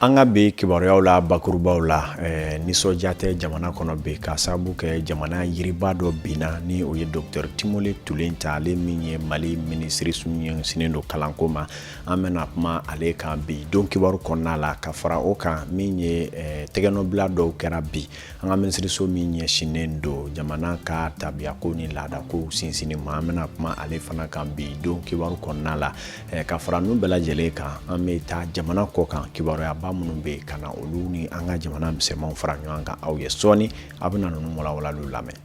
An ka bi kibaruyaw la bakurubaw la eh, nisɔndiya tɛ jamana kɔnɔ bi ka sababu kɛ jamana yiriba dɔ binna ni o ye dɔkitɛri Timore Tulenta ale min ye Mali minisiriso ɲɛsinnen don kalanko ma an bɛna kuma ale kan bi don kibaru kɔnɔna la ka fara o kan min ye eh, tɛgɛnɔbila dɔw kɛra bi an ka minisiriso min ɲɛsinnen don jamana ka tabiyako ni laadakow sinsinni ma an bɛna kuma ale fana kan bi don kibaru kɔnɔna la eh, ka fara ninnu bɛɛ lajɛlen kan an bɛ taa jamana kɔ kan kibaruyaba minnu bɛ yen ka na olu ni an ka jamana misɛnmanw fara ɲɔgɔn kan aw ye sɔɔni a bɛna ninnu walawalaliw lamɛn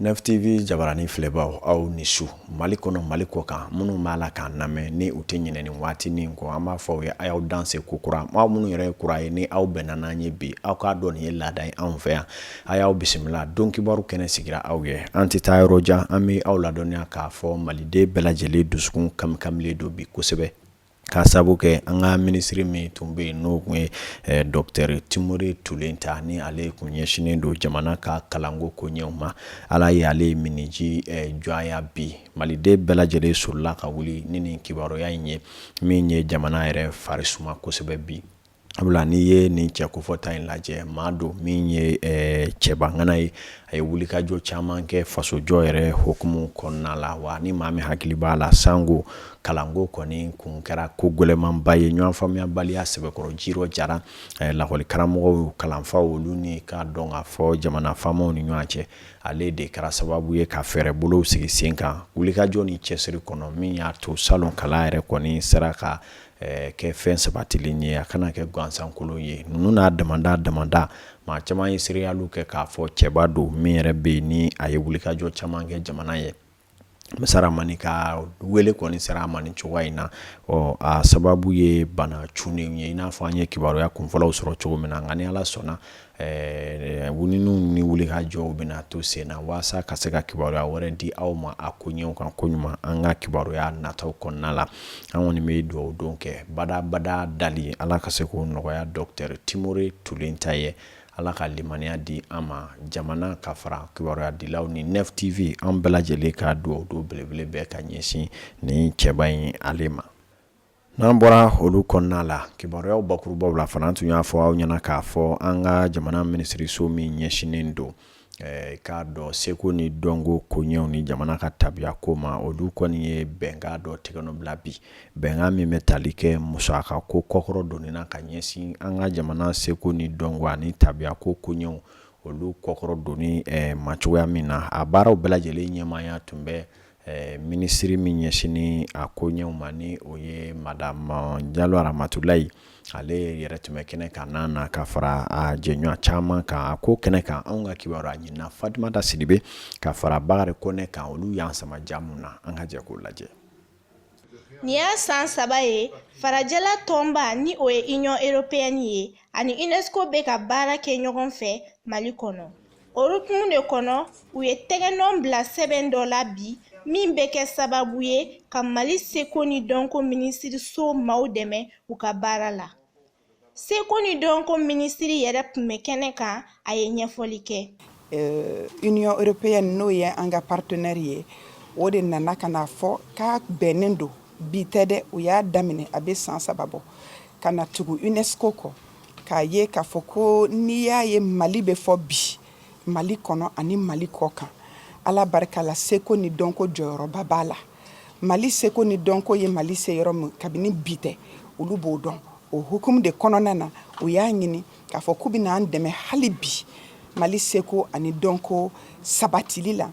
NFTV jabarani filɛbaaw aw ni su mali kɔnɔ mali kɔ kan minnu b'a la k'an lamɛn ni u tɛ ɲinɛ nin waati nin kɔ an b'a fɔ aw ye a y'aw danse ko kura aw minnu yɛrɛ ye kura ye ni aw bɛnna n'an ye bi aw k'a dɔn nin ye laada ye anw fɛ yan a y'aw bisimila don kibaru kɛnɛ sigira aw ye an tɛ taa yɔrɔ jan an bɛ aw ladɔnniya k'a fɔ maliden bɛɛ lajɛlen dusukun kamikamilen don bi kosɛbɛ ka sabu kɛ an ka minisiri min tun bɛ yen n'o tun ye eh, dɔkitɛri Timore Tulenta ni ale kun ɲɛsinnen don jamana ka kalanko koɲɛw ma ala ye ale miniji eh, dɔgɔya bi maliden bɛɛ lajɛlen sorila ka wuli ni nin kibaruya in ye min ye jamana yɛrɛ fari suma kosɛbɛ bi Sabula n'i ye nin cɛ kofɔta in lajɛ maa don min ye cɛbangana ye a ye wulikajɔ caman kɛ fasojɔ yɛrɛ hukumu kɔnɔna la wa ni maa min hakili b'a la sanko kalanko kɔni kun kɛra ko gɛlɛnmanba ye ɲɔgɔn faamuyabaliya sɛbɛkɔrɔ ji jara lakɔlikaramɔgɔw kalanfaw olu ni k'a dɔn k'a fɔ jamana faamaw ni ɲɔgɔn cɛ ale de kɛra sababu ye ka fɛɛrɛ bolow sigi sen kan wulikajɔ ni cɛsiri kɔnɔ min y'a to salon kalan yɛrɛ kɔni sera ka kɛ fɛn sabatilen ye a kana kɛ gansankolon ye ninnu n'a damadama maa caman ye seereyalu kɛ k'a fɔ cɛba don min yɛrɛ bɛ yen ni a ye wulikajɔ caman kɛ jamana ye masa ramani ka wele kɔni sera a ma nin cogoya in na ɔ a sababu ye bana cunnen ye i n'a fɔ an ye kibaruya kunfɔlɔw sɔrɔ cogo min na nka ni ala sɔnna ɲininiw ni wulikajɔw bɛna to sen na walasa ka se ka kibaruya wɛrɛ di aw ma a koɲɛw kan koɲuman an ka kibaruya nataw kɔnɔna la an kɔni bɛ dugawu don kɛ badabada dali ala ka se k'o nɔgɔya dɔkitɛri Timore Tulenta ye ala ka limaniya di an ma jamana ka fara kibaruya dilaw ni NFTV an bɛɛ lajɛlen ka dugawu don belebele bɛ ka ɲɛsin nin cɛba in ale ma N'an bɔra olu kɔnɔna la kibaruyaw bakurubaw la fana tun y'a fɔ aw ɲɛna k'a fɔ an ka jamana minisiriso min ɲɛsinnen don eh, k'a dɔn seko ni dɔnko koɲɛw ni jamana ka tabiya ko ma olu kɔni ye bɛnkan dɔ tɛgɛnɔbila bi bɛnkan min bɛ tali kɛ musaka ko kɔkɔrɔ donni na ka ɲɛsin an ka jamana seko ni dɔnko ani tabiya ko koɲɛw olu kɔkɔrɔ donni eh, ma cogoya min na a baaraw bɛɛ lajɛlen ɲɛmaaya tun bɛ Ɛɛ minisiri min ɲɛsinnen a koɲɛw ma ni o ye madamu jalo aramatulayi ale yɛrɛ tun bɛ kɛnɛ kan a nana ka fara a jɛɲɔgɔn caman kan a ko kɛnɛ kan anw ka kibaruyaɲinina fatumata sidibe ka fara bakari kɔnɛ kan olu y'an sama ja min na an ka jɛ k'o lajɛ nin ye san saba ye farajɛla tɔnba ni o ye union européenne ye ani unesco bɛ ka baara kɛ ɲɔgɔn fɛ mali kɔnɔ o hukumu de kɔnɔ u ye tɛgɛnɔn bila sɛbɛn dɔ la bi min bɛ kɛ sababu ye ka mali seko ni dɔnko minisiriso maaw dɛmɛ u ka baara la seko ni dɔnko minisiri yɛrɛ tun bɛ kɛnɛ kan a ye ɲɛfɔli kɛ euh, union européenne n'o ye an ka partenaire ye o de nana ka na fɔ k'a bɛnnen don bi tɛ dɛ u y'a daminɛ a bɛ san saba bɔ ka na tugu unesco kɔ k'a ye k'a fɔ ko n'i y'a ye mali bɛ fɔ bi mali kɔnɔ ani mali kɔ kan ala barika la seko ni dɔnko jɔyɔrɔba b'a la mali seko ni dɔnko ye mali se yɔrɔ min kabini bi tɛ olu b'o dɔn o hukumu de kɔnɔna na u y'a ɲini k'a fɔ k'u bɛna an dɛmɛ hali bi mali seko ani dɔnko sabatili la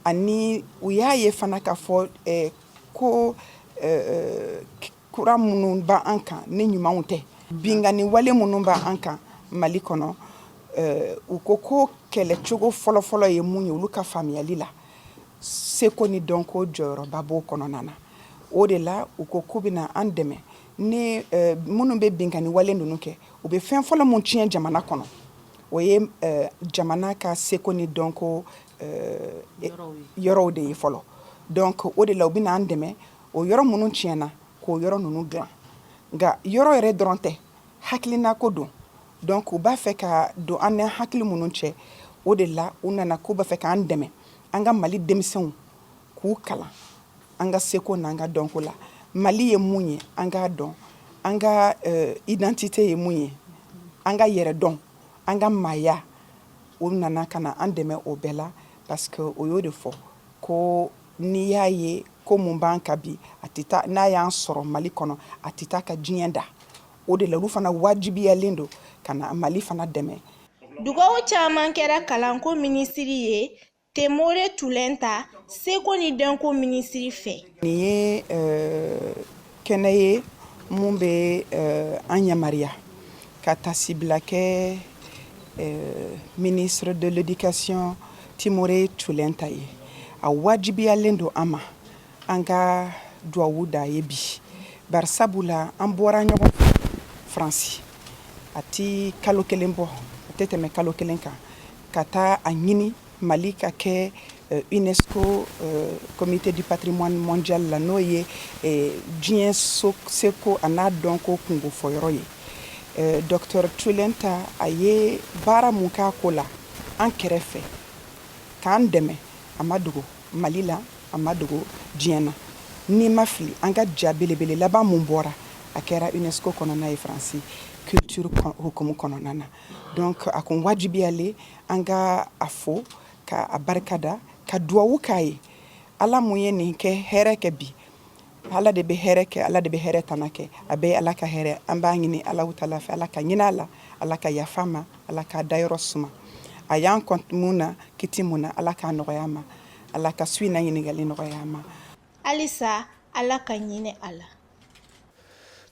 ani u y'a ye fana k'a fɔ eh, ko eh, eh, kura minnu b' an kan ni ɲumanw tɛ binkanni wale minnu b' an kan mali kɔnɔ u ko k'o kɛlɛcogo fɔlɔfɔlɔ ye mun ye olu ka faamuyali la seko ni dɔnko jɔyɔrɔba b'o kɔnɔna na o de la u ko k'u bɛna an dɛmɛ ni minnu bɛ binkanni wale ninnu kɛ u bɛ fɛn fɔlɔ min tiɲɛ jamana kɔnɔ o ye jamana ka seko ni dɔnko yɔrɔw de ye fɔlɔ donc o de la u bɛna an dɛmɛ o yɔrɔ minnu tiɲɛna k'o yɔrɔ ninnu dilan nka yɔrɔ yɛrɛ dɔrɔn tɛ hakilinako don donc u b'a fɛ ka don an ni hakili minnu cɛ o de la u nana k'u b'a fɛ k'an dɛmɛ an ka mali denmisɛnw k'u kalan an ka seko n'an ka dɔnko la mali ye mun ye an k'a dɔn an ka eh, identité ye mun ye an ka yɛrɛdɔn an ka maaya o nana ka na an dɛmɛ o bɛɛ la parce que o y'o de fɔ ko N'i y'a ye ko min b'an kan bi a tɛ taa n'a y'an sɔrɔ mali kɔnɔ a tɛ taa ka diɲɛ da o de la olu fana wajibiyalen don ka na mali fana dɛmɛ Dugawu caman kɛra kalanko minisiri ye Temore Tulenta, seko ni dɔnko minisiri fɛ. Nin ye kɛnɛ ye mun bɛ eh, an yamaruya ka tasibila kɛ eh, ministre de l'éducation temore tioulenta ye a wajibiyalen don an ma an ka duwawu d'a ye bi bari sabula an bɔra ɲɔgɔn fɛ faransi a ti kalo kelen bɔ a tɛ tɛmɛ kalo kelen kan ka taa a ɲini Mali ka kɛ unesco comité du patrimoine mondial la n'o ye diɲɛ seko a n'a dɔnko kunko fɔyɔrɔ ye docteur tioulenta a ye baara min k'a ko la an kɛrɛfɛ k'an dɛmɛ a ma dogo mali la a ma dogo diɲɛ na ni ma fili an ka ja belebele laban min bɔra a kɛra unesco kɔnɔna yen faransi culture hukumu kɔnɔna na donc a kun wajibiyalen An ka a fo ka a barika da ka duwawu k'a ye Ala mun ye nin kɛ hɛrɛ kɛ bi Ala de bɛ hɛrɛ kɛ Ala de bɛ hɛrɛ tana kɛ a bɛɛ ye Ala ka hɛrɛ an b'a ɲini Alahu taala fɛ Ala ka hin'a la Ala ka yaf'a ma Ala k'a dayɔrɔ suma a y'an kɔn mun na kiti mun na Ala k'a nɔgɔy'a ma Ala ka su in na ɲininkali nɔgɔy'a ma halisa Ala ka hinɛ a la.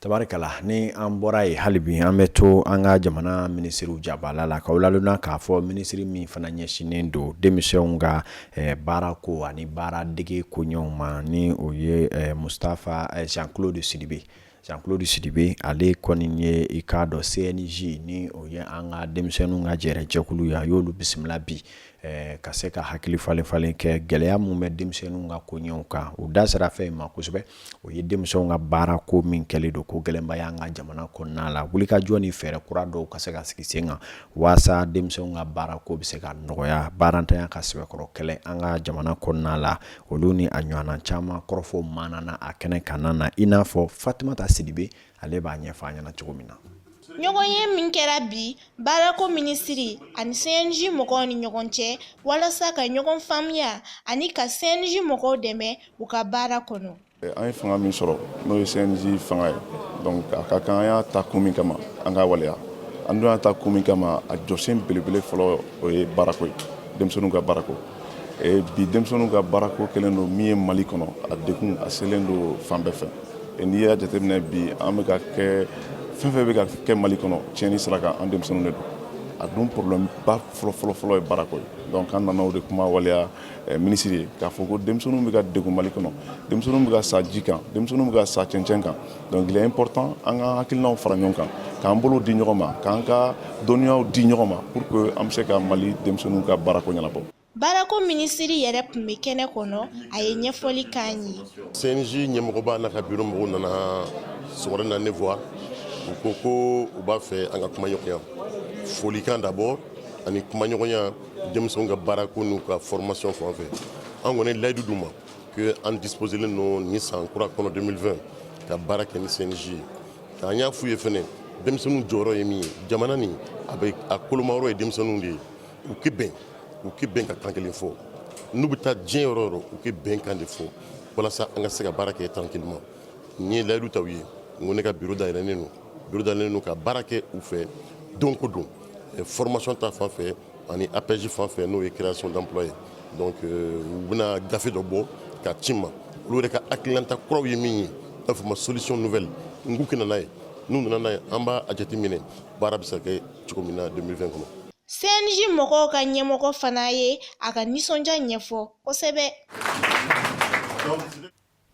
tabarikala ni an bɔra yen hali bi an bɛ to an ka jamana minisiriw jabala la k'aw ladɔnniya k'a fɔ minisiri min fana ɲɛsinnen don denmisɛnw ka eh, baara ko ani baara dege koɲɛw ma ni o ye eh, mustafa eh, jean claude sidibe jean claude sidibe ale kɔni ye i k'a dɔn cnj ni o ye an ka denmisɛnninw ka jɛrɛjɛkulu ye a y'olu bisimila bi Eh, ka se ka hakili falen falen kɛ gɛlɛya min bɛ denmisɛnninw ka koɲɛw kan u da sera fɛn min ma kosɛbɛ o ye denmisɛnw ka baara ko min kɛlen don ko gɛlɛnba y'an ka jamana kɔnɔna la wulikajɔ ni fɛɛrɛ kura dɔw ka se ka sigi sen kan walasa denmisɛnw ka baara ko bɛ se ka nɔgɔya baarantanya ka sɛbɛkɔrɔ kɛlɛ an ka jamana kɔnɔna la olu ni a ɲɔgɔnna caman kɔrɔfɔ maana na a kɛnɛ kan na i n'a fɔ fatumata sidibe ale b'a ɲɛfɔ an ɲɛna cogo min na ɲɔgɔnye min kɛra bi baarako minisiri ani cnj mɔgɔw ni ɲɔgɔn cɛ walasa ka ɲɔgɔn faamuya ani ka cnj mɔgɔw dɛmɛ u ka baara kɔnɔ an ye fanga min sɔrɔ n'o ye cnj fanga ye donc a ka kan an y'a ta kun min kama an k'a waleya an dun y'a ta kun min kama a jɔsen belebele fɔlɔ o ye baarako ye denmisɛnninw ka baarako bi denmisɛnninw ka baarako kɛlen don min ye mali kɔnɔ a degun a selen don fan bɛɛ fɛ n'i y'a jateminɛ bi an bɛ ka kɛ fɛn fɛn bɛ ka kɛ mali kɔnɔ tiɲɛni sira kan an denmisɛnninw de don a dun problème ba fɔlɔfɔlɔfɔlɔ ye baarako ye donc an nana o de kuma waleya eh, minisiri ye k'a fɔ ko denmisɛnninw bɛ ka degun mali kɔnɔ denmisɛnninw bɛ ka sa ji kan denmisɛnninw bɛ ka sa cɛncɛn kan donc il est important an ka hakilinaw fara ɲɔgɔn kan k'an bolo di ɲɔgɔn ma k'an ka dɔnniyaw di ɲɔgɔn ma pour que an bɛ se ka mali denmisɛnninw ka baarako ɲɛnabɔ baarako minisiri yɛrɛ tun bɛ kɛnɛ kɔnɔ a ye ɲɛfɔli k'an ye cnj ɲɛmɔgɔba n'a ka biro mɔgɔw nana sɔgɔmada na ne voir u ko ko u b'a fɛ an ka kumaɲɔgɔnya folikan d'abord ani kumaɲɔgɔnya denmisɛnw ka baarako n'u ka formation fan fɛ an kɔni ye layidu d'u ma que an disposelen don nin san kura kɔnɔ 2020 ka baara kɛ ni cnj ye k'an y'a f'u ye fɛnɛ denmisɛnninw jɔyɔrɔ ye min ye jamana nin a bɛ a kolomayɔrɔ ye denmisɛnninw de ye u k'i bɛn ka kan kelen fɔ n'u bɛ taa diɲɛ yɔrɔ o yɔrɔ u k'i bɛn kan de fɔ walasa an ka se ka baara kɛ tranquillement n ye layidu ta u ye n ko ne ka biro dayɛlɛnnen don ka baara kɛ u fɛ don ko don formation ta fan fɛ ani apej fan fɛ n'o ye création d'emploi ye donc u bɛna gafe dɔ bɔ ka ci n ma olu yɛrɛ ka hakilinata kuraw ye min ye a fɔ ma solution nouvelle n k'u ka na n'a ye n'u nana n'a ye an b'a jateminɛ baara bɛ se ka kɛ cogo min na 2020 kɔnɔ CNJ mɔgɔw ka ɲɛmɔgɔ fana ye a ka nisɔndiya ɲɛfɔ kosɛbɛ.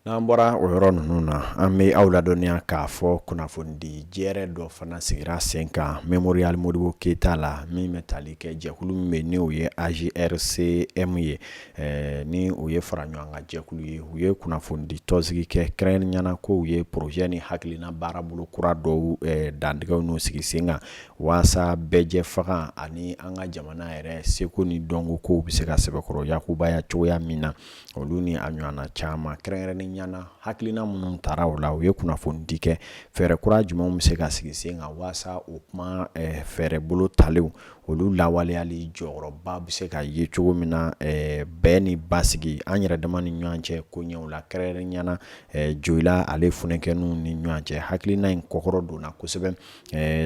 N'an bɔra o yɔrɔ ninnu na an bɛ aw ladɔnniya k'a fɔ kunnafonidi jɛrɛ dɔ fana sigira sen kan Mémorial Modibo Keita la min bɛ tali kɛ jɛkulu min bɛ ni o ye AJRCM ye ni o ye fara ɲɔgɔn kan jɛkulu ye u ye kunnafonidi tɔnsigi kɛ kɛrɛnkɛrɛnnenya na ko u ye projet ni hakilina baarabolo kura dɔw dantigɛ n'u sigi sen kan walasa bɛɛjɛfanga ani an ka jamana yɛrɛ seko ni dɔnko kow bɛ se ka sɛbɛkɔrɔ yakubaya cogoya min na olu ni a ɲɔgɔnna caman kɛrɛnkɛrɛnnenya na hakilina minnu tara o la u ye kunnafoni di kɛ fɛɛrɛ kura jumɛnw bɛ se ka sigi sen kan walasa u kuma fɛɛrɛ bolodalenw olu lawaleyali jɔyɔrɔba bɛ se ka ye cogo min na bɛn ni basigi an yɛrɛ dama ni ɲɔgɔn cɛ koɲɛw la kɛrɛnkɛrɛnnenya na jola ale funankɛninw ni ɲɔgɔn cɛ hakilina in kɔkɔrɔ donna kosɛbɛ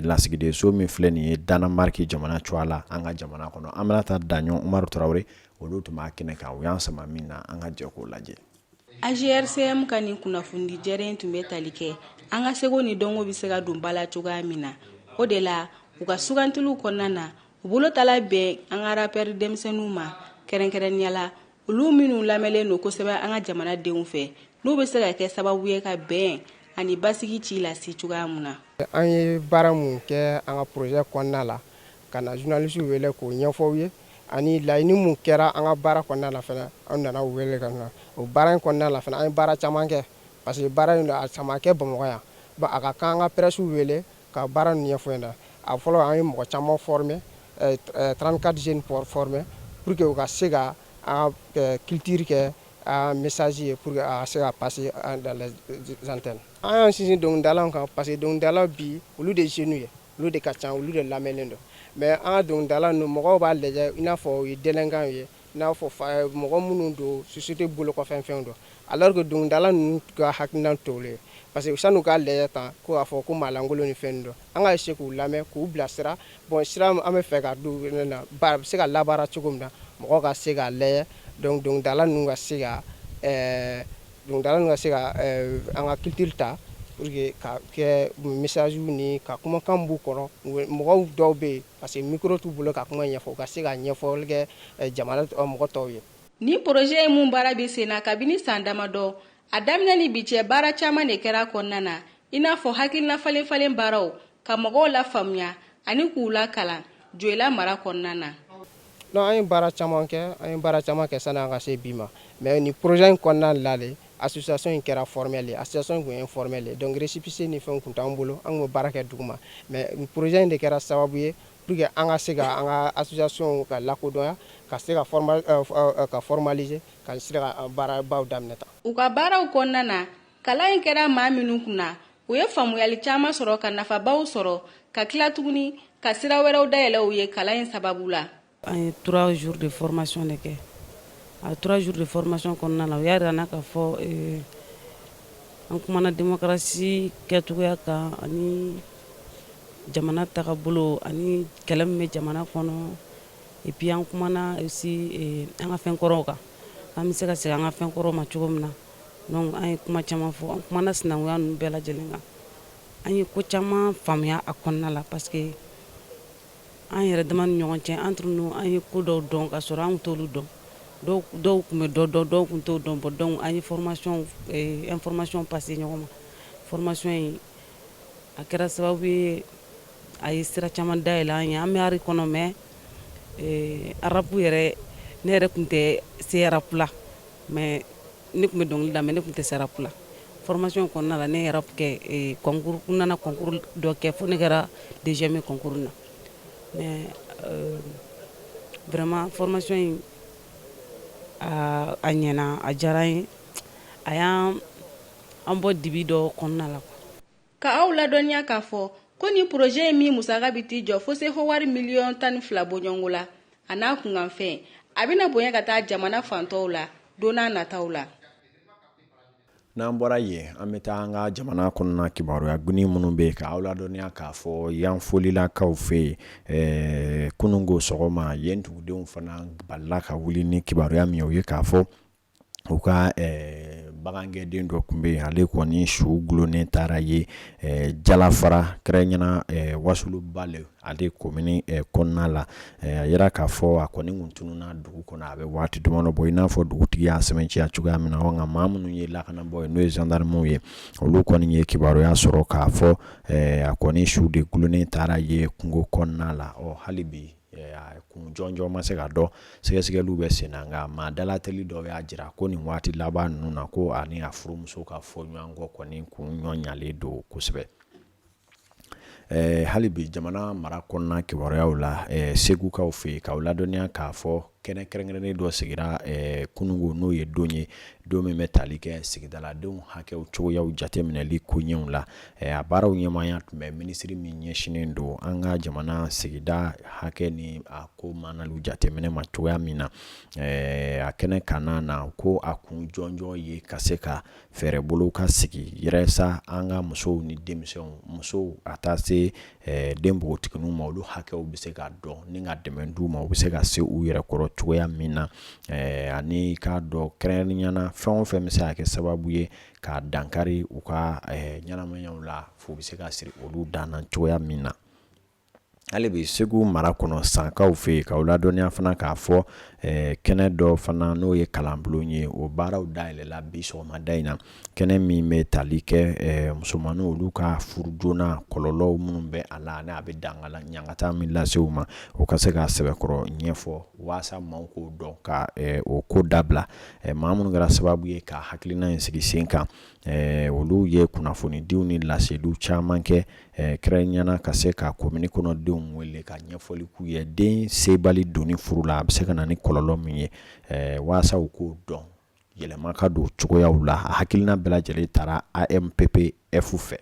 lasigidenso min filɛ nin ye Danemark jamana cogoya la an ka jamana kɔnɔ an bɛna taa Daɲɔn Umaru Tarawele olu tun b'a kɛnɛ kan u y'an sama min na an ka jɛ k'o lajɛ AJRCM ka nin kunnafonidi jɛrɛ in tun bɛ tali kɛ an ka seko ni dɔnko bɛ se ka don ba la cogoya min na o de la u ka sugandiliw kɔnɔna na u bolodala bɛn an ka rappeur denmisɛnninw ma kɛrɛnkɛrɛnnenya la olu minnu lamɛnlen don kosɛbɛ an ka jamanadenw fɛ n'u bɛ se ka kɛ sababu ye ka bɛn ani basigi ci lase cogoya mun na an ye baara minnu kɛ an ka projet kɔnɔna la ka na journalistes wele k'o ɲɛfɔ u ye ani laɲini minnu kɛra an ka baara kɔnɔna la fɛnɛ an nana u wele ka na o baara in kɔnɔna la fɛnɛ an ye baara caman kɛ parce que baara in a caman kɛ bamakɔ yan a ka kan an ka pɛrɛsiw wele Ka baara ninnu ɲɛfɔ u ɲɛna a fɔlɔ an ye mɔgɔ caman former 34 jeunes former pour que u ka se ka an ka culture kɛ un message ye pour que a ka se ka passer dans les antennes an y'an sinsin dɔnkilidalaw kan parce que dɔnkilidala bi olu de jeunes ye olu de ka ca olu de lamɛnnen don mais an ka dɔnkilidala ninnu mɔgɔw b'a lajɛ i n'a fɔ u ye délinquants ye N'a fɔ mɔgɔ minnu don société bolo kɔfɛ fɛn don alors que dɔnkilidala ninnu ka hakilina t'olu ye parce que san'u k'a lajɛ tan ko k'a fɔ ko maalankolon ni fɛn don an ka se k'u lamɛn k'u bilasira bon sira an bɛ fɛ ka na a bɛ se ka labaara cogo min na mɔgɔ ka se k'a lajɛ dɔnkilidala ninnu ka se ka dɔnkilidala ka se ka an ka culture ta ka kɛ message ni ka kumakan b'u kɔnɔ mɔgɔw dɔw bɛ yen Parce que micro t'u bolo ka kuma ɲɛfɔ u ka se ka ɲɛfɔli kɛ jamana mɔgɔ tɔw ye. Ni projet ye mun baara bɛ sen na kabini san damadɔ, a daminɛ ni bi cɛ baara caman de kɛra a kɔnɔna na, i n'a fɔ hakilina falen falen baaraw, ka mɔgɔw lafaamuya ani k'u lakalan Dioïla mara kɔnɔna na. Non an ye baara caman kɛ, an ye baara caman kɛ sani an ka se bi ma. Mais nin projet in kɔnɔna la de association in kɛra formelle ye. Association in tun ye informelle ye donc récépissé ni fɛnw tun t'an bolo, an tun bɛ baara kɛ duguma. Mais nin projet in de kɛra sababu ye pour que an ka se ka an ka association ka lakodɔnya, ka se ka formal ɛɛ ka formaliser ka se ka baarabaw daminɛ tan. U ka baaraw kɔnɔna na, kalan in kɛra maa minnu kun na u ye faamuyali caman sɔrɔ ka nafabaw sɔrɔ ka tila tuguni ka sira wɛrɛw dayɛlɛ u ye kalan in sababu la an ye trois jours de formation de kɛ a trois jours de formation kɔnɔna na u y'a jira an na k'a fɔ eh, an kumana demokarasi kɛcogoya kan ani jamana tagabolo ani kɛlɛ min bɛ jamana kɔnɔ et puis an kumana aussi eh, an ka fɛn kɔrɔw kan an bɛ se ka segin an ka fɛn kɔrɔw ma cogo min na donc an ye kuma caman fɔ an kumana sinankunya ninnu bɛɛ lajɛlen kan an ye ko caman faamuya a kɔnɔna la parce que an yɛrɛ dama ni ɲɔgɔn cɛ entre nous an ye ko dɔw dɔn ka sɔrɔ an t'olu dɔn dɔw tun bɛ dɔ dɔn dɔw tun t'o dɔn bon donc an ye formation eh, information passer ɲɔgɔn ma formation in a kɛra sababu ye a ye sira caman dayɛlɛ an ye an bɛ art kɔnɔ mais eh, rap yɛrɛ ne yɛrɛ tun tɛ se rap la mais ne tun bɛ dɔnkili da mais ne tun tɛ se rap la formation kɔnɔna la ne ye rap kɛ eh, concours n nana concours dɔ kɛ fo ne kɛra deuxième ye concours na mais euh, vraiment formation in a a ɲɛna a diyara n ye a y'an an bɔ dibi dɔ kɔnɔna la quoi Ka aw ladɔnniya k'a fɔ ko ni poroze ye min musaka bɛ t'i jɔ fo sefawari miliyɔn tan ni fila bɔɲɔgɔnko la a n'a kunkanfɛn a bɛna bonya ka taa jamana fan tɔw la don nataw la. N'an bɔra yen an bɛ taa an ka jamana kɔnɔna kibaruya goni minnu bɛ yen ka aw ladɔnniya k'a fɔ Yanfolilakaw fɛ yen ɛɛ kunungo sɔgɔma yen dugudenw fana balila ka wuli ni kibaruya min ye o ye k'a fɔ u ka bagangɛnden dɔ tun bɛ yen ale kɔni su dulonnen taara ye jalafara kɛrɛnkɛrɛnyana wasulubale ale komini kɔnɔna la a jira k'a fɔ a kɔni tun tununna dugu kɔnɔ a bɛ waati damadɔ bɔ i n'a fɔ dugutigi y'a sɛmɛntiya cogoya min na nka maa minnu ye lakanabaw ye n'o ye zandaramuw ye olu kɔni ye kibaruya sɔrɔ k'a fɔ a kɔni su de dulonnen taara ye kungo kɔnɔna la hali bi kun jɔnjɔn ma se ka dɔn sɛgɛsɛgɛliw bɛ sen na nka maa dalateli dɔw y'a jira ko nin waati laban ninnu na ko a ni a furumuso ka fɔɲɔgɔnkɔ kɔni kun bonyalen don kosɛbɛ hali bi jamana mara kɔnɔna kibaruyaw la segukaw fɛ yen k'aw ladɔnniya k'a fɔ kɛnɛ kɛrɛnkɛrɛnnen dɔ sigira eh, kunungo n'o ye don ye don min bɛ tali kɛ sigidaladenw hakɛw cogoyaw jateminɛli koɲɛw la eh, a baaraw ɲɛmaaya tun bɛ minisiri min ɲɛsinnen don an ka jamana sigida hakɛ ni a ko manaliw jateminɛ ma cogoya min na eh, a kɛnɛ kanna na ko a kun jɔnjɔn ye ka se ka fɛɛrɛ bolo ka sigi yɛrɛsa an ka musow ni denmisɛnw musow a taa se eh, den npogotigininw ma olu hakɛw bɛ se ka dɔn ni ka dɛmɛ d'u ma u bɛ se ka se u yɛrɛ kɔrɔ cogoya min na eh, ani k'a dɔn kɛrɛnkɛrɛnnenyana fɛn o fɛn bɛ se ka kɛ sababu ye ka dankari u ka eh, ɲɛnamayaw la fu bɛ se ka siri olu dan na cogoya min na hali bi segu mara kɔnɔ sankaw fɛ yen k'aw ladɔnniya fana k'a fɔ eh, kɛnɛ dɔ fana n'o ye kalanbulon ye o baaraw dayɛlɛla bi sɔgɔmada in na kɛnɛ min bɛ tali kɛ eh, musomanninw olu ka furu joona kɔlɔlɔw minnu bɛ a la ani a bɛ dangala ɲangata min lase u ma o ka se ka sɛbɛkɔrɔ ɲɛfɔ waasa maaw k'o dɔn ka eh, o ko dabila eh, maa minnu kɛra sababu ye ka hakilina in sigi sen kan eh, olu ye kunnafonidiw ni laseliw caman kɛ eh, kɛrɛnkɛrɛnyana ka se ka komini kɔnɔdenw wele ka ɲɛfɔli k'u ye den sebali donni furu la a bɛ se ka na ni kɔlɔlɔ min ye eh, waasa u k'o dɔn yɛlɛma ka don cogoyaw la a hakilina bɛɛ lajɛlen tara amppf fɛ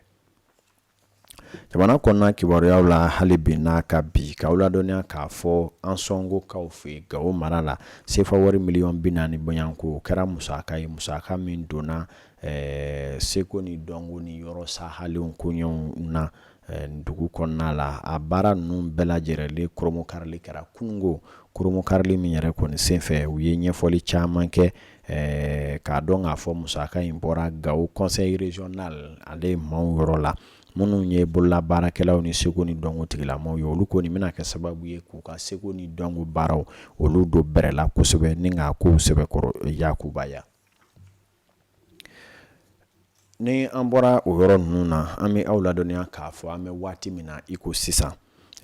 jamana kɔnɔna kibaruyaw la hali bi n'a ka bi k'aw ladɔnniya k'a fɔ ansongokaw fɛ yen gawo mara la sefa wari miliyɔn bi naani bɔɲɔgɔnko o kɛra musaka ye musaka min donna seko ni dɔnko ni yɔrɔ sahalenw koɲɛw na dugu kɔnɔna la a baara ninnu bɛɛ lajɛlen kurunbonkarili kɛra kunungo kurunbonkarili min yɛrɛ kɔni senfɛ u ye ɲɛfɔli caman kɛ k'a dɔn k'a fɔ musaka in bɔra gawo conseil régional ale ɲɛmaaw yɔrɔ la minnu ye bolola baarakɛlaw ni seko ni dɔnko tigilamaw ye olu kɔni bɛna kɛ sababu ye k'u ka seko ni dɔnko baaraw olu don bɛrɛla kosɛbɛ ni k'a kow sɛbɛkɔrɔ yakubaya Ni an bɔra o yɔrɔ ninnu na an bɛ aw ladɔnniya k'a fɔ an bɛ waati min na iko sisan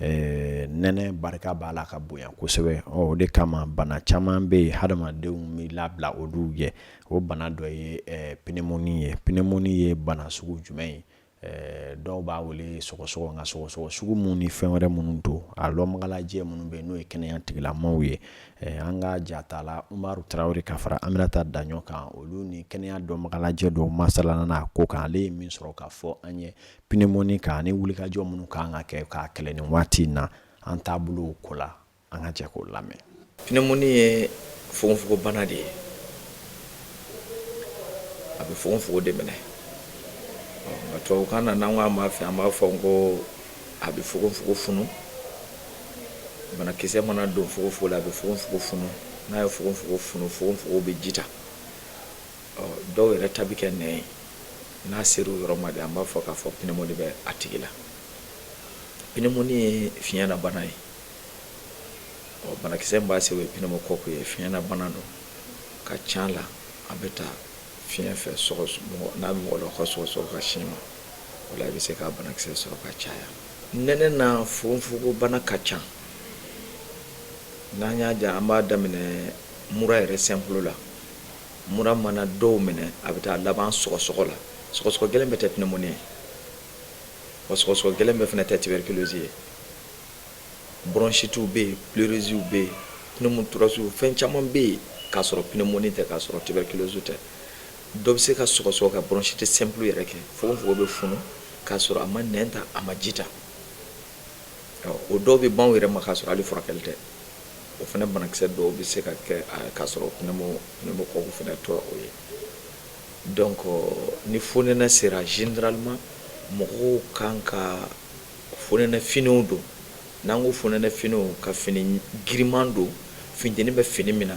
nɛnɛ barika b'a la ka bonya kosɛbɛ o de kama bana caman bɛ yen hadamadenw bɛ labila olu ye o bana dɔ ye pneumonie ye pneumonie ye bana sugu jumɛn ye Eh, dɔw b'a wele sɔgɔsɔgɔ nka sɔgɔsɔgɔ sugu minnu ni fɛn wɛrɛ minnu don a lɔnbagalajɛ minnu bɛ n'o ye kɛnɛya tigilamaw ye eh, an ka jatala umaru tarawele ka fara aminata daɲɔ kan olu ni kɛnɛya dɔnbagalajɛ dɔw masalana n'a ko kan ale ye min sɔrɔ k'a fɔ an ye pneumonie kan ani wulikajɔ minnu kan ka kɛ k'a kɛlɛ nin waati in na an taabolow ko la an ka jɛ k'o lamɛn pneumonie ye fogonfogobana de ye a bɛ fogonfogo de minɛ nka tubabukan na n'an k'a ma fɛ an b'a fɔ n ko a bɛ fogonfogo funu banakisɛ mana don fogonfogo la a bɛ fogonfogo funu n'a ye fogonfogo funu fogonfogo bɛ ji ta dɔw yɛrɛ ta bɛ kɛ nɛn ye n'a ser'o yɔrɔ ma de an b'a fɔ k'a fɔ pneumonie bɛ a tigi la pneumonie ye fiɲɛna bana ye ɔ banakisɛ b'a se o ye pneumocoque ye fiɲɛna bana don ka ca la a bɛ ta fiɲɛ fɛ n'a bɛ mɔgɔ la ka sɔgɔsɔgɔ ka sin mɔgɔ la i bɛ se k'a banakisɛ sɔrɔ ka caya nɛnɛ na fogofogo bana ka ca n'an y'a ja an b'a daminɛ mura yɛrɛ simple la mura mana dɔw minɛ a bɛ taa laban sɔgɔsɔgɔ la sɔgɔsɔgɔ gɛlɛn bɛɛ tɛ pneumonie ye wa sɔgɔsɔgɔ gɛlɛn bɛɛ fana tɛ tuberculose ye Bronchites bɛ yen, pleurésies bɛ yen, pneumothorax fɛn caman bɛ yen k'a sɔrɔ pneumonie tɛ k'a sɔrɔ tuberculose tɛ. Dɔ bɛ se ka sɔgɔsɔgɔ ka bronchite simple yɛrɛ kɛ, fogonfogon bɛ funu k'a sɔrɔ a ma nɛn ta, a ma ji ta. O dɔw bɛ ban u yɛrɛ ma k'a sɔrɔ hali furakɛli tɛ. O fana banakisɛ dɔw bɛ se ka kɛ k'a sɔrɔ pneumocoque fana tɛ o ye. Donc ni fonɛnɛ sera généralement mɔgɔw ka kan ka fonɛnɛ finiw don n'an ko fonɛnɛ finiw ka fini giriman don funteni bɛ fini min na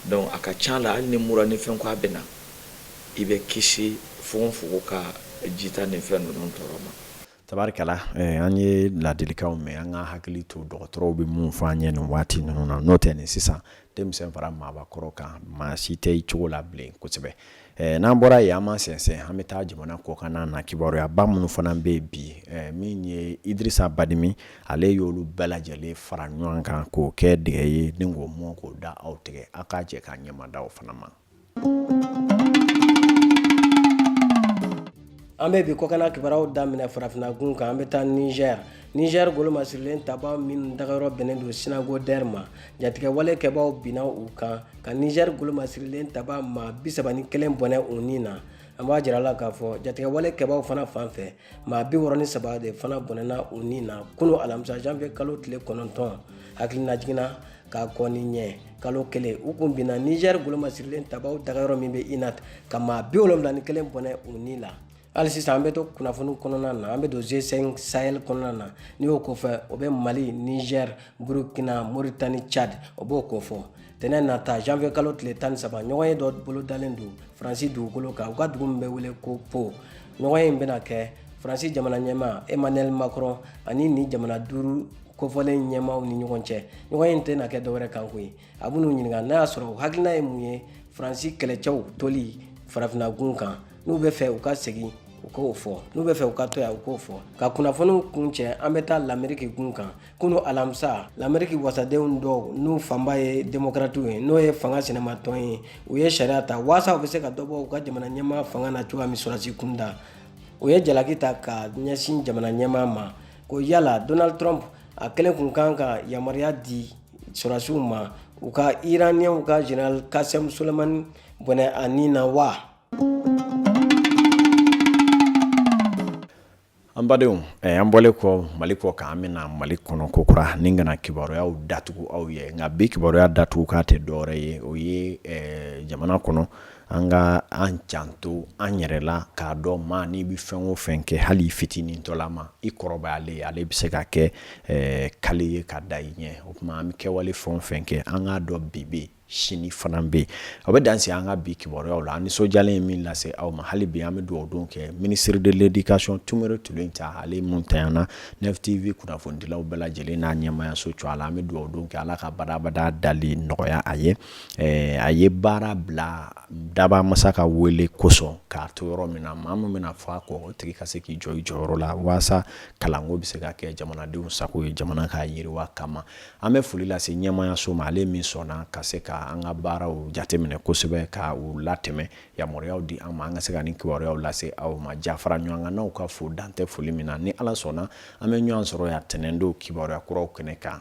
donc a ka ca la hali ni mura ni fɛn ko a bɛ na i bɛ kisi fogofogo ka jita ni fɛn ninnu tɔɔrɔ ma tabarikala eh, an ye ladilikanw mɛn an ka hakili to dɔgɔtɔrɔw bɛ mun fɔ an ye nin waati ninnu na n'o tɛ nin sisan denmisɛn fara maabakɔrɔ kan maa si tɛ cogo la bilen kosɛbɛ eh, n'an bɔra yen an ma sɛnsɛn an bɛ taa jamana kɔkanna na kibaruyaba minnu fana bɛ yen bi eh, min ye idirisa badimi ale y'olu bɛɛ lajɛlen fara ɲɔgɔn kan k'o kɛ dɛgɛ ye ni k'o mɔ k'o da aw tigɛ aw ka jɛ ka ɲɛmada o fana ma an bɛ bi kɔkana kibaruyaw daminɛ farafinna gun kan an bɛ taa niger niger golomasirilen tabaa minnu dagayɔrɔ bɛnnen don sinagodɛr ma jatigɛwale kɛbaaw binna u kan ka niger golomasirilen tabaa maa bi saba ni kelen bɔnɛ u ni na an b'a jira aw la k'a fɔ jatigɛwale kɛbaaw fana fan fɛ maa bi wɔrɔ ni saba de fana bɔnɛna u ni na kunu alamisa janvier kalo tile kɔnɔntɔn hakilinajigin na ka kɔn nin ɲɛ kalo kelen u kun binna nizɛri golomasirilen tabaw dagayɔrɔ min bɛ inat ka maa bi wolonwula ni kelen bɔnɛ u ni la hali sisan an bɛ to kunnafoni kɔnɔna na an bɛ don g5 sahel kɔnɔna na n'i y'o kofɔ o bɛ mali nizɛri burukina moritani chad o b'o kofɔ tɛnɛn nata janvier kalo tile tan ni saba ɲɔgɔnye dɔ bolodalen don faransi dugukolo kan u ka dugu min bɛ wele ko po ɲɔgɔnye in bɛna kɛ faransi jamana ɲɛmaa emmanuel macron ani ni jamana duuru kofɔlen in ɲɛmaaw ni ɲɔgɔn cɛ ɲɔgɔnye in tɛna kɛ dɔwɛrɛ kan koyi a b'u ɲininka n'a y'a sɔrɔ u hakilina ye mun ye faransi kɛlɛcɛw toli farafinna gun kan n'u b'a fɛ u ka segin u k'o fɔ n'u b'a fɛ u ka to yan u k'o fɔ ka kunnafoniw kuncɛ an bɛ taa lameriki gun kan kunu alamisa lameriki wasadenw dɔw n'u fanba ye demokratiw ye n'o ye fanga sinamatɔn ye u ye sariya ta waasa u bɛ se ka dɔ bɔ u ka jamana ɲɛmaa fanga na cogoya min sɔrɔdasi kunda u ye jalaki ta ka ɲɛsin jamana ɲɛmaa ma ko yala donald trump a kelen kun kan ka yamaruya di sɔrɔdasiw ma u ka iraniɛnw ka general kasem soleimani bɔnɛ a ni na wa an badenw eh, an bɔlen kɔ mali kɔkan an bɛ na mali kɔnɔ kokura ni ka na kibaruyaw datugu aw ye nka bi kibaruya datugukan tɛ dɔwɛrɛ ye o ye eh, jamana kɔnɔ an ka an janto an yɛrɛ la k'a dɔn maa n'i bɛ fɛn o fɛn kɛ hali fitinin tɔla ma i kɔrɔbayalen ale bɛ se ka kɛ eh, kale ye ka da i ɲɛ o tuma an bɛ kɛwale fɛn o fɛn kɛ an k'a dɔn bi bɛ sini fana bɛ yen o bɛ dan sigi an ka bi kibaruyaw la an nisɔndiyalen ye min lase aw ma hali bi an bɛ dugawudon kɛ ministre de l'éducation Témoré Tioulenta ale min taɲɛna Neuf TV kunnafonidilaw bɛɛ lajɛlen n'a ɲɛmaayaso tɔgɔ la an bɛ dugawudon kɛ ala ka badabada dali nɔgɔya a ye ɛɛ a ye baara bila dabaa masa ka wele kosɔn k'a to yɔrɔ min na maa min bɛna fɔ a kɔ o tigi ka se k'i jɔ i jɔyɔrɔ la waasa kalanko bɛ se ka kɛ jamanadenw sago ye jamana ka yiriwa kama an bɛ foli lase ɲɛmaayaso ma ale min sɔnna ka se ka an ka baaraw jateminɛ kosɛbɛ ka u latɛmɛ yamaruyaw di an ma an ka se ka ni kibaruyaw lase aw ma jafaraɲɔgɔnkannaw k'aw fo dan tɛ foli min na ni ala sɔnna an bɛ ɲɔgɔn sɔrɔ yan tɛnɛndon kibaruya kuraw kɛnɛ kan